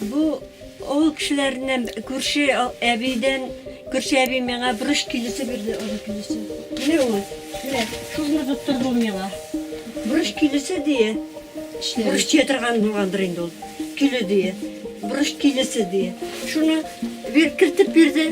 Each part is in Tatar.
Бу авыл кешеләреннән күрше әбидән, күрше әби миңа борыч килесе бирде, аны килесе. Менә ул, менә шулны тоттырды ул миңа. Борыч килесе дие. Борыч тия торган булгандыр инде ул. Киле дие. Борыч килесе дие. Шуны бир, кертеп бирде.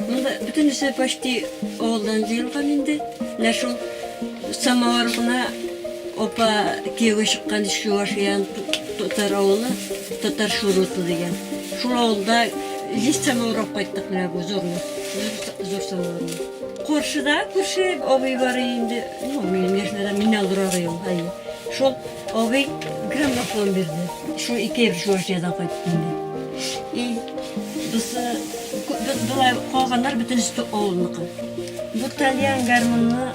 Монда бөтенесе почти авылдан җыелган инде. Менә шул самовар гына апа кияүгә чыккан ич Чувашиян татар авылы, татар шуруты дигән. Шул авылда лист самовар алып кайттык менә бу зурны, зур самоварны. Каршыда күрше абый бар инде, ну, минем яшьнәрдән, миннән олырагый ул, әйе. Шул. Абый граммофон бирде. Шул ике ел Чувашиядан кайтып инде. И без без болай калганнар бөтенесе тә авылныкы. Бу тальян гармунны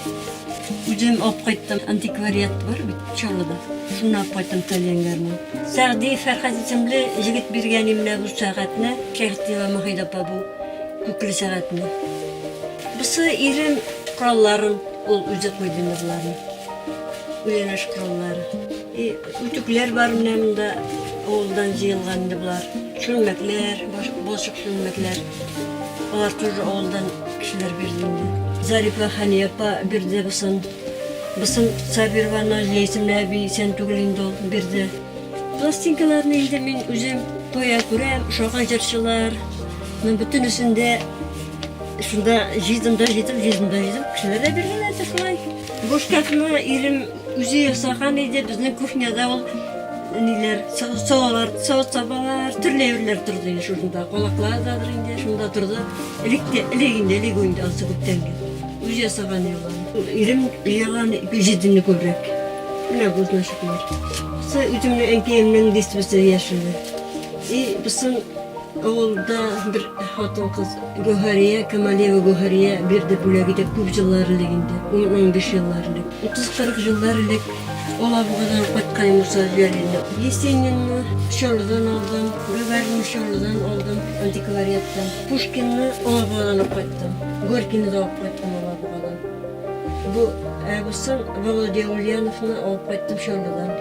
үзем алып кайттым. Антиквариат бар бит Чаллыда. Шуннан алып кайттым тальян гармун. Сәгъди Фәрхәт исемле егет биргән имлә бу сәгатьне. Шәхтиева Мөхидә апа бу күкле сәгатьне. Бусы ирем коралларын ул үзе куйды инде боларны. Миләш каллар. И үтүкләр бар менә монда. Авылдан җыелган инде болар. Чүлмәкләр, балчык чүлмәкләр. Алар тоже авылдан кешеләр бирде инде. Зарипа Ханиапа бирде бысын. Бысын Сабированы Лейсина әби исән түгел инде ул бирде. Пластинкаларны инде мин үзем тоя күрәм, шага җырчылар. Мин бөтенесендә шунда җыйдым да җыйдым, җыйдым да җыйдым. Кешеләр дә биргән әйтә шулай. Бушкафны ирем үзе ясаган иде. Безнең кухняда ул ниләр, салалар, салат сабалар, төрле әйберләр торды инде шушында. Калаклар да инде шунда торды. Элек тә, элек инде, элек инде асы күптән инде. Үз ясаган юлы. Ирем ялаган пижидинне күбрәк. Менә бу значит. Сы үземне әнкәемнең дистбесе яшеле. И бысын Авылда бер хатын-кыз, Гәүһәрия Камалиева Гәүһәрия бирде бүләк итеп, күп җыллар элек инде, ун-унбиш еллар элек. Утыз-кырык еллар элек Алабугадан кайткач, Муса Җәлилне. Есенинны Чаллыдан алдым, Гагаринны Чаллыдан алдым, антиквариаттан. Пушкинны Алабугадан алып кайттым. Горькийны да алып кайттым Алабугадан. Бу, ә бусын Володя Ульяновны алып кайттым Чаллыдан.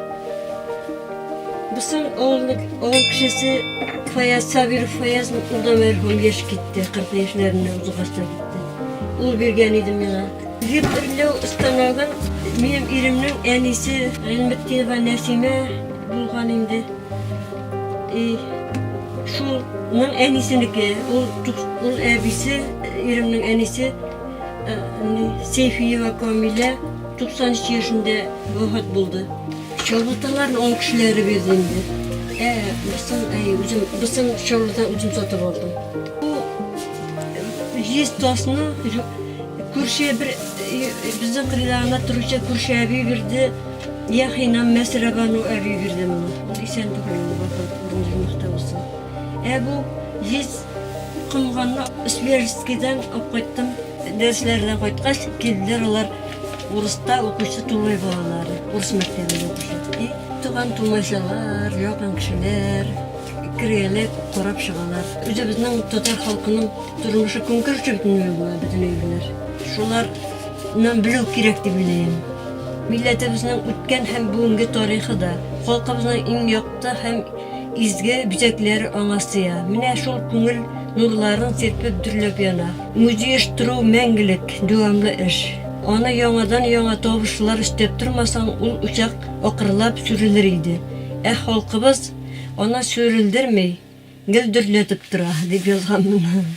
Бусың авылның авыл кешесе Фаяз Сабиров Фаяз урда мәрхүм яшь китте, 40 яшьләрендә узгачта китте. Ул биргән иде миңа. Геп эрләү станогын минем иремнең әнисе Гыйлметдинова Нәсимә булган инде. И шулның әнисенеке, ул ул әбисе, иремнең әнисе Сейфиева Камилә 93 яшендә вафат булды. Чабаталарны он кешеләре бирде инде. Ә бысын, әй, үзем, бысын чабата үзем сатып алдым. Бу җиз тасны күрше бер безнең кырда ана торучы күрше әби бирде. Яхинам Мәсрәбану әби бирде моны. Ул исән түгел, вафат булды, мөхтә булсын. Ә бу җиз комганны Свежскидан алып кайттым. Дәресләрдән кайткач, килделәр алар. Урыста укучы Тумай балалары, урыс мәктәбендә укучы. И, туган тумайчалар, якын кешеләр кергәләп карап чыгалар. Үзебезнең татар халкының тормышы көнкүреше бөтенләй була бөтен әйберләр. Шуларны белү кирәк дип уйлыйм. Милләтебезнең үткән һәм бүгенге тарихы да, халкыбызның иң якты һәм изге бизәкләре аңа сыя. Менә шул күңел нурларын сирпеп дөрләп яна. Үзйөштерү мәңгелек, дәвамлы эш. Аны яңадан-яңа табышлар өстәп тормасаң, ул учак акрынлап сүрелер иде. Ә халкыбыз аны сүрелдерми, гел дөрләтеп тора, дип язганмын.